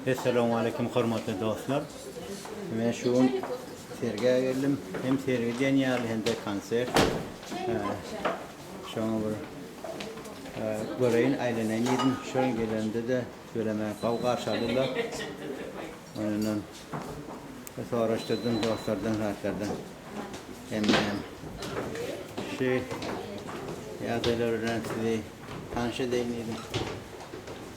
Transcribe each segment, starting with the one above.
Essalawmaleýkim hormatly dostlar. Men şu gün sergä geldim. Hem sergi diýen ýaly hem-de konsert. Şoňa bir göreýin, aýlanaýyn diýdim. Şu gün gelenimde-de böleme gowy garşy aldylar. Ondan soraşdyrdym dostlardan, zatlardan. Hemme hem şu ýagdaýlar bilen sizi tanyş edeýin diýdim.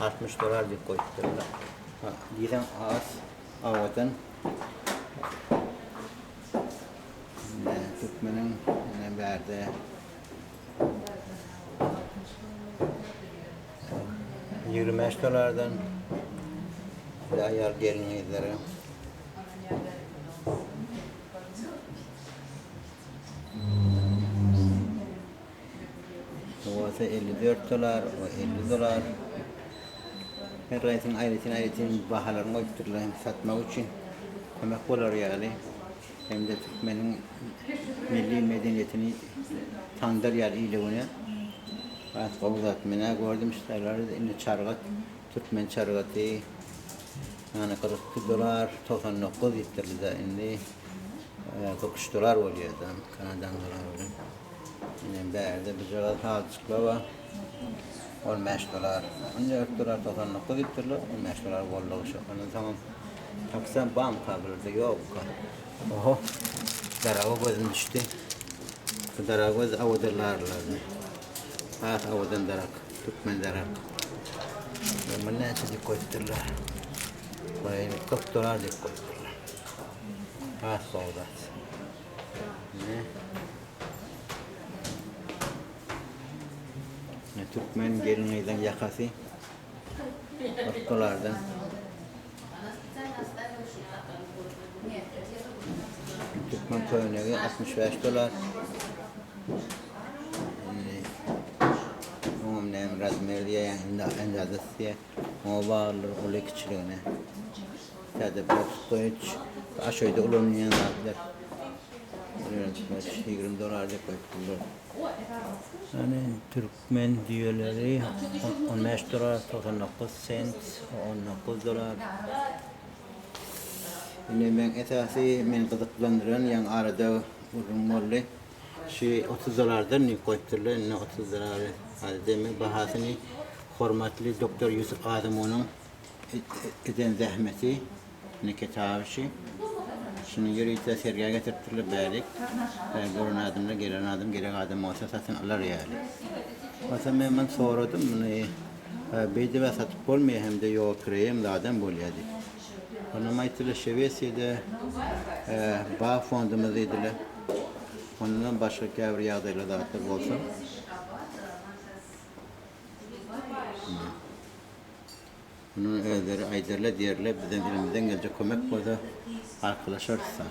Altmyş dolar diýip goýupdyrlar. Diýseň has awadan. Türkmeniň ene bärde. Ýigrimi bäş dolardan aýal gelin-gyzlara. Bu bolsa elli dört dollar, bu elli dollar. Her aýsynyň aýratyn-aýratyn bahalaryny goýupdyrlar hem satmak üçin kömek bolar ýaly, hem-de türkmeniň milli medeniýetini tandar ýaly ile güne. Has gowy zat. Men-ä gördüm ştaýlary, indi çargat, türkmen çargaty, ýany kyrk iki dollar, togsan dokuz diýipdirler-de, indi kyrk üç dollar bolýar-da, kanadanyň dolary bilen. Ine bärde bijala saljyklar bar. Ol meşgalar on dört durar, togsan dokuz diýip durlar. Ol meşgalar boldugy şu. Ondan soňam taksam banka birde ýokka. Oho. Daraga gözüm düşdi. Bu daraga göz awadan larylardan. Has awadan darak. Türkmen darak. Muny näçe diýip goýupdyrlar. Goýaýyny kyrk dolar diýip goýupdyrlar. Has gowy zat. Türkmen gelin-gyzyň ýakasy gyrpylardan. Türkmen köýnegi 65 dolar. Oňam näme razmer diýýär, indi indi adysyýär. Oňa barlaryň uly-kiçiligine, täze bokskoýuç, aşöýde ulanylýan zatlar, ýöretmeç, ýigrimi dollar diýip goýup durlar. Ýöne türkmen düýeleri on bäş dollar togsan dokuz sent, on dokuz dollar. Indi meň esasy meni gyzyklandyran, ýaňy arada gürrüň boldy. Şu otuz dollardan diýip goýupdyrlar, indi otuz dollary az deme, bahasyny hormatly doktor Ýusup Gazymowynyň eden zähmeti, indi kitaby şu. Şuny ýörite sergä getiripdirler, bärik. Bäri gören adamlar, gelen adam, gerek adam bolsa satyn alar ýaly. Onsoň men muny soradym, muny beýdibä satyp bolmaýar hem-de ýogapireýem zadam bolýar diýip. Onam aýtdylar, Şewesiýada bag fondumyz diýdiler. Ondanam başga käbir ýagdaýlar zatlar bolsa. Muny özleri aýdarlar diýerler, bizem elimizden geljek kömek bolsa arkalaşarys da.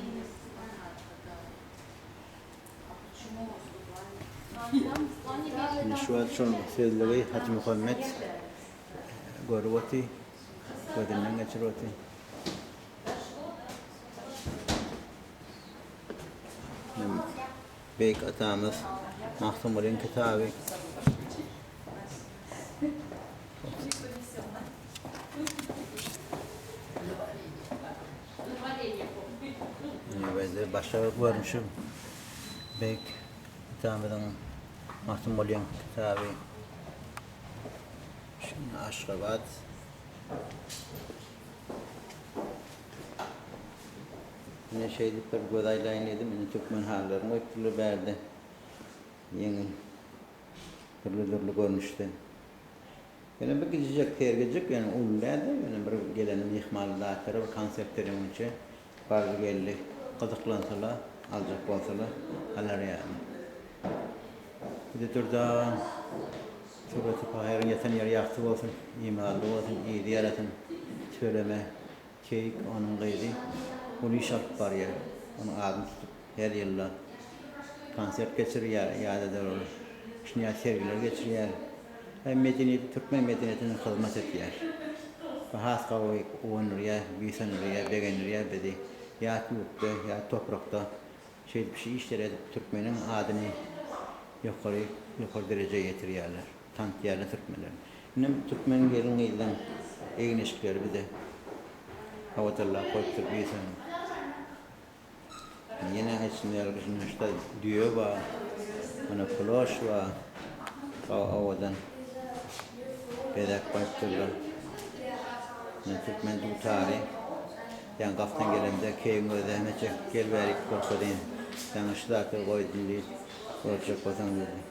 Indi şu wagt şol sözlügi Hajymuhammet görüp otyr. gözünden geçirip otyr. Beýik atamyz Magtymgulyň kitaby. Ýa-da başga görnüşi beýik atamyzyň Magtymgulyň kitaby. Şunda Aşgabat Ine şeýdip bir göz aýlaýyn diýdim. Ine türkmen halylaryny goýupdyrlar bärde. Ýeňil. Dürli-dürli görnüşde. Ýöne bir gijijek sergijik, ýöne uly däl-de, ýöne bir gelen myhmandara bir konsert beregiňçe Barzy geldi gyzyklansalar aljak bolsalar alar ýaly. Bizi Dürdan Surata Pahyryň ýatan ýeri ýagty bolsun imanly bolsun yzy ýarasyn Tüweleme keýik onuň gyzy uly iş alyp barýar onuň adyny tutup. Her ýylda konsert geçirýär, ýa-da-da ol şinýat sergileri geçirýär we medeniýet, türkmen medeniýetine hyzmat edýär. Bu has gowy guwandyrýar, buýsandyrýar, begendirýär bizi. Ýat ýurtda, ýat toprakda şeýdip şu işleri edip türkmeniň adyny ýokary, ýokary derejä ýetirýärler, tanydýarlar türkmenleri. Inem türkmen gelin-gyzlaň egin-eşikleri bize hawa-darlap goýupdyr, buýsandyryp. Ýene aýtsam ýaly biz meşde düýe bar. Ýene ploş bar. Sag owadan bezek goýup durlar. Ýene türkmen dutary. Sen gapdan gelemde keýigiň gözi zähmet çekip gel bäri iki kurtka deýin. Saňa şu zady goýdum diýip, görjek bolsaň diýdi.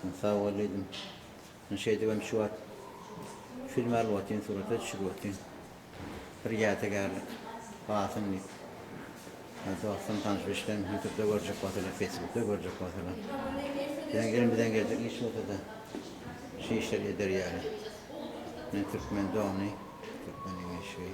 Men sag bol diýdim. Men şeýdibem şu wagt film alyp otyryn, surata düşürip otyryn. Bir ýadygärlik galsyn diýip. Ýa dostum, tanyş-bilişlerim ýutubda görjek bolsalar, feýsbukda görjek bolsalar. Biziň elimizden geljek iş bolsa-da, şu işleri ederýäris. Men türkmen dony, türkmeniň eşigi.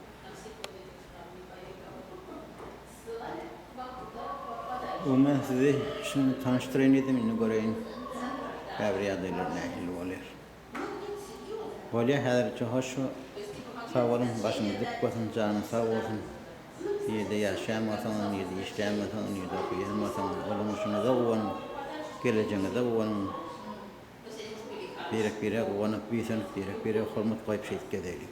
Umuman sizi şindi tanyşdyraýyn diýdim indi göreýin käbir ýagdaýlar nähili bolýar. Bolýar häzirlikçe hoş sag boluň başyňyz dik bolsun janyň sag bolsun nirde ýaşaýan bolsaňyz nirde işleýän bolsaňyz nirde okaýan bolsaňyz ulanyşyňyza guwanyň gelejegiňize guwanyň. Birek-birege guwanyp, buýsanyp, birek-birege hormat goýup şeýt gezeli.